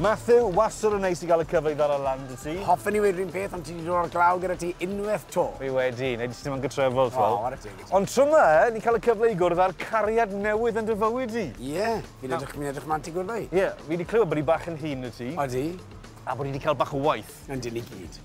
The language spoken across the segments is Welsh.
Matthew, wastad yn neis i gael y cyfle i ddala lan dy ti. Hoffen ni wedi rhywun peth, ond ti wedi dod o'r glaw gyda ti unwaith to. Fi wedi, neu jyst ddim yn gytrefol, ti'n fel. Oh, teg, ond tro yma, eh, ni'n cael y cyfle i gwrdd â'r cariad newydd yn dy fywyd di. Ie, yeah, fi'n edrych, fi edrych manti gwrdd i. Ie, yeah, fi wedi clywed bod i bach yn hun y ti. Odi. A bod i wedi cael bach o waith. Yn dyn i gyd.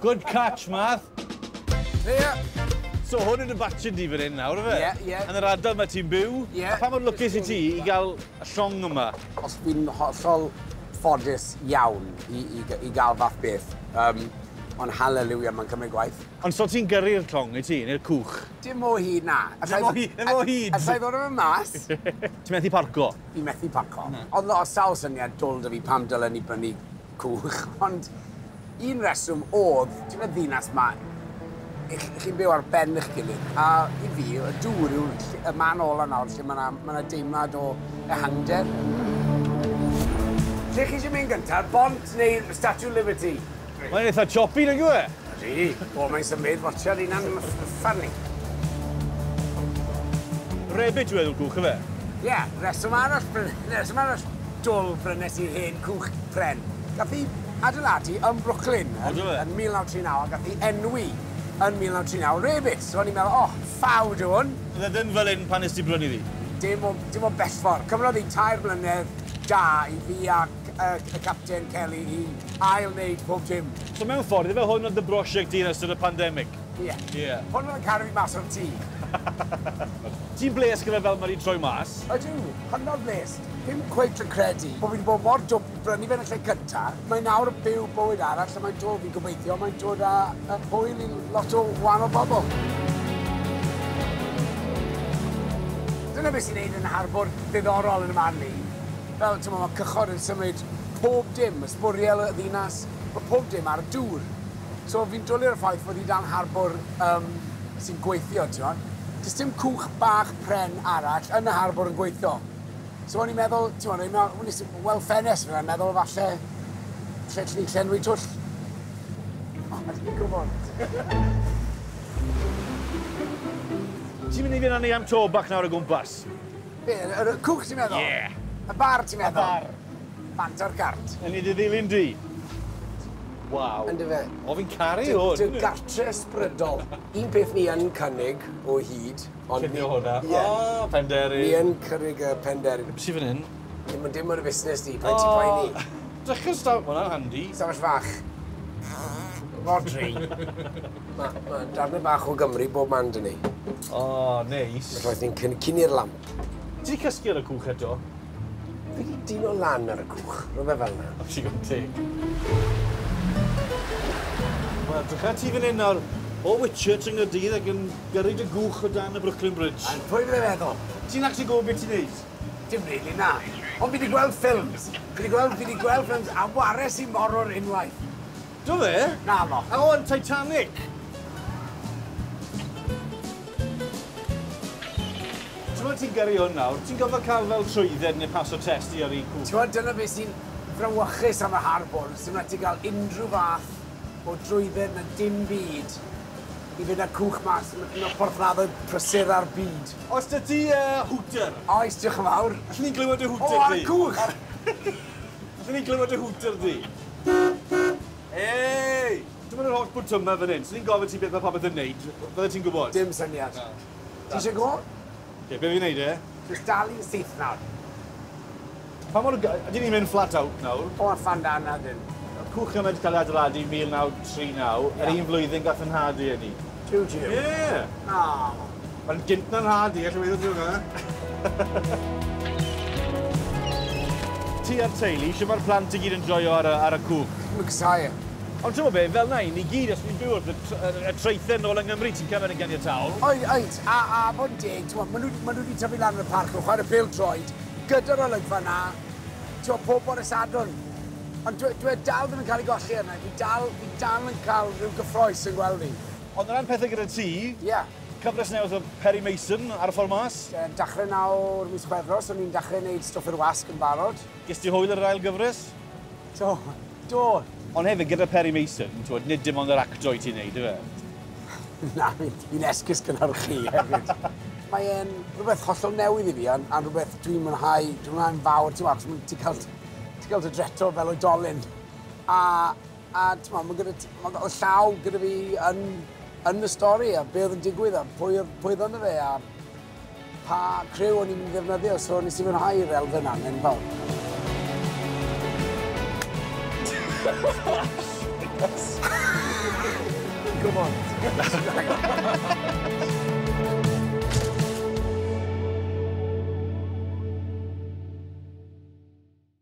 Good catch, Marth. There you are. So hwn yn y batch di fan hyn nawr, efe? Ie, ie. Yn yr adar mae ti'n byw. Ie. A pa mor lwcus i ti i gael y llong yma? Os fi'n hollol ffodus iawn i, i, i gael fath beth, um, ond hallelujah, mae'n cymryd gwaith. Ond so ti'n gyrru'r llong i ti, neu'r cwch? Dim o hyd, na. Dim o hyd, dim o hyd. Alla i ddod o'n mas? Ti'n methu parco? Fi'n methu parco. Oedd o sawl syniad dwl da fi pam dylen ni brynu Coch, ond un reswm odd, ti'n y ddinas ma, chi'n byw ar ben eich gilydd, a i fi, y dŵr yw'r y man ola nawr lle mae yna ma deimlad o ehangder. Lle chi eisiau mynd gyntaf, bont neu Statue Liberty? Mae'n eitha choppy, nag yw e? Ydy. O, mae'n symud. Watcha, dyna'n uffar ni. Rebid yw enw'r gwch, efe? Ie, yeah, reswm arall, reswm arall dwl brynes i'r hen cwch pren. Gath i adeiladu yn Brooklyn yn, yn 1939 a gath i enwi yn 1939 Rebit. So o'n i'n meddwl, oh, ffawd yw hwn. Oedd e ddim fel un pan nes ti brynu ddi? Dim o, dim o bellfor. Cymrodd i tair mlynedd da i fi a y Capten Kelly i ail wneud pob dim. So mewn ffordd, ife hwn oedd dy brosiect di yn ystod y pandemic? Ie. Ie. Hwn oedd yn caru fi mas o'r tŷ. Ti'n blês gyda fel mae di troi mas? Ydw, hynod blês. Ddim cweit yn credu bod fi di bod mor dwp i brynu fe yn y lle cynta. Mae nawr yn byw bywyd arall lle mae'n dod, fi'n gobeithio, mae'n dod â yy hwyl i lot o wahanol bobl. Dyna beth sy'n neud e'n harbwr ddiddorol yn 'y marn i. Fel, t'mo', ma' cychod yn symud pob dim, ma' sbwriel y ddinas, ma' pob dim ar y dŵr. So fi'n dwli ar y ffaith fod hi dan harbwr yym sy'n gweithio, t'mod. Does dim cwch bach pren arall yn y harbwr yn gweithio. So o'n i'n meddwl, t'mod, o'n i'n nes i weld ffenest fyn 'na, o'n meddwl falle lle allwn ni llenwi twll. O, ma' jyst yn gwbod. Ti'n mynd i fyn' â ni am to bach nawr o gwmpas? Be, yr y cwch ti'n meddwl? Ie. Y bar ti'n meddwl? Y bar. Bant ar gart. Yn i dy ddilyn di. Waw. Yndy fe? O fi'n caru hwn. Dy gartre ysbrydol. Un peth ni yn cynnig o hyd ond... Llunio hwnna. Ie. O penderyn. Ni yn cynnig y penderyn. Be sy fan hyn? Dim yn dim ar y fusnes di, paid ti'n poeni. O! Drycha staw- ma' wnna'n handi. Stafell fach. Rhodri. Ma' ma' darne bach o Gymru bob man 'da ni. O, neis. Felly roedd ni'n cyn- cynnu'r lamp. Ti 'di cysgu ar y cwch eto? Fi 'di dino lan ar y cwch, rhywbeth fel 'na. O, digon teg. Wel, drycha ti fan 'yn nawr, o Whitchurch yng Nghaerdydd ac yn gyrru dy gwch o dan y Brooklyn Bridge. A pwy fydde feddwl? Ti'n actually gwbo be' ti'n neud? Dim rili, na. Ond fi 'di gweld ffilms. Fi 'di gweld fi 'di gweld ffilms a wares i morwr unwaith. Do fe? Naddo. A o, yn Titanic! T'mod ti'n gyrru hwn nawr, ti'n gorfod cael fel trwydded neu paso test i ar IQ. T'mod dyna be sy'n frawychus am y Harbwr, sdim raid ti gael unrhyw fath o drwydded na dim byd i fynd â cwch mas, ma' un o'r porthladdoedd prysura'r byd. Oes 'da ti yy hwter? Oes, diolch yn fawr. Allen ni glywed dy hwter di? O, ar y cwch! Allwn ni glywed dy hwter di? Hey! Dyma yr holl bwtymau fan hyn. Swn i'n gofyn ti beth mae popeth yn neud, fydde ti'n gwybod? Dim syniad. Na. Ti eisiau go? Ie, be fi'n neud e? Jyst dalu syth nawr. Pa mor... Ydyn ni'n mynd flat out nawr? O, fan da na ddim. Cwch yma wedi cael ei adeiladu 1939. Yr un flwyddyn gath fy nhad ei eni. Two Jim? Ie! Aww. Mae'n gynt na'n rhad i, allai weithio ti hwnna. Ti a'r teulu, shwt mae'r plant i gyd yn joio ar y, ar y cwch? Maen nhw'n casau e. Ond ti'n gwybod be, fel na i ni gyd, os ni'n byw wrth y, y, y traethau nôl yng Nghymru, ti'n cael mynd ganiataol. Oed, oed, a, a bod yn deg, ti'n maen nhw, maen nhw wedi tyfu lan yn y parc, nhw'n chwarae pêl droed, gyda'r olygfa na, ti'n pob bore Sadwrn. Ond dw- dw e dal ddim yn cael ei golli arna i. Fi dal, fi dal yn cael rhyw gyffroes yn gweld hi. Ond o ran pethe gyda ti... Ie. Cyfres newydd o Perry Mason ar y ffordd mas? Ie, dachre nawr mis Chwefror, so ni'n dachre neud Stwff i'r Wasg yn barod. Ges ti hwyl ar yr ail gyfres? Do, do! Ond hefyd, gyda Perry Mason, t'wod, nid dim ond yr acto i ti neud, yfe? Na, fi'n fi esgus gynhyrchu hefyd. Mae e'n rhywbeth hollol newydd i fi, a'n, a'n rhywbeth dwi'n mwynhau, dwi'n mwynhau'n fawr, ti'n achos ma' ti'n cael Ti'n cael dy dreto fel oedolyn. A, a t'mo, mae gyda ti, mae o llaw gyda fi yn, yn y stori a be oedd yn digwydd a pwy oedd, pwy oedd yna fe a pa criw o'n i'n ddefnyddio, so nes i fwynhau'r elfen na'n enfawr. Come on.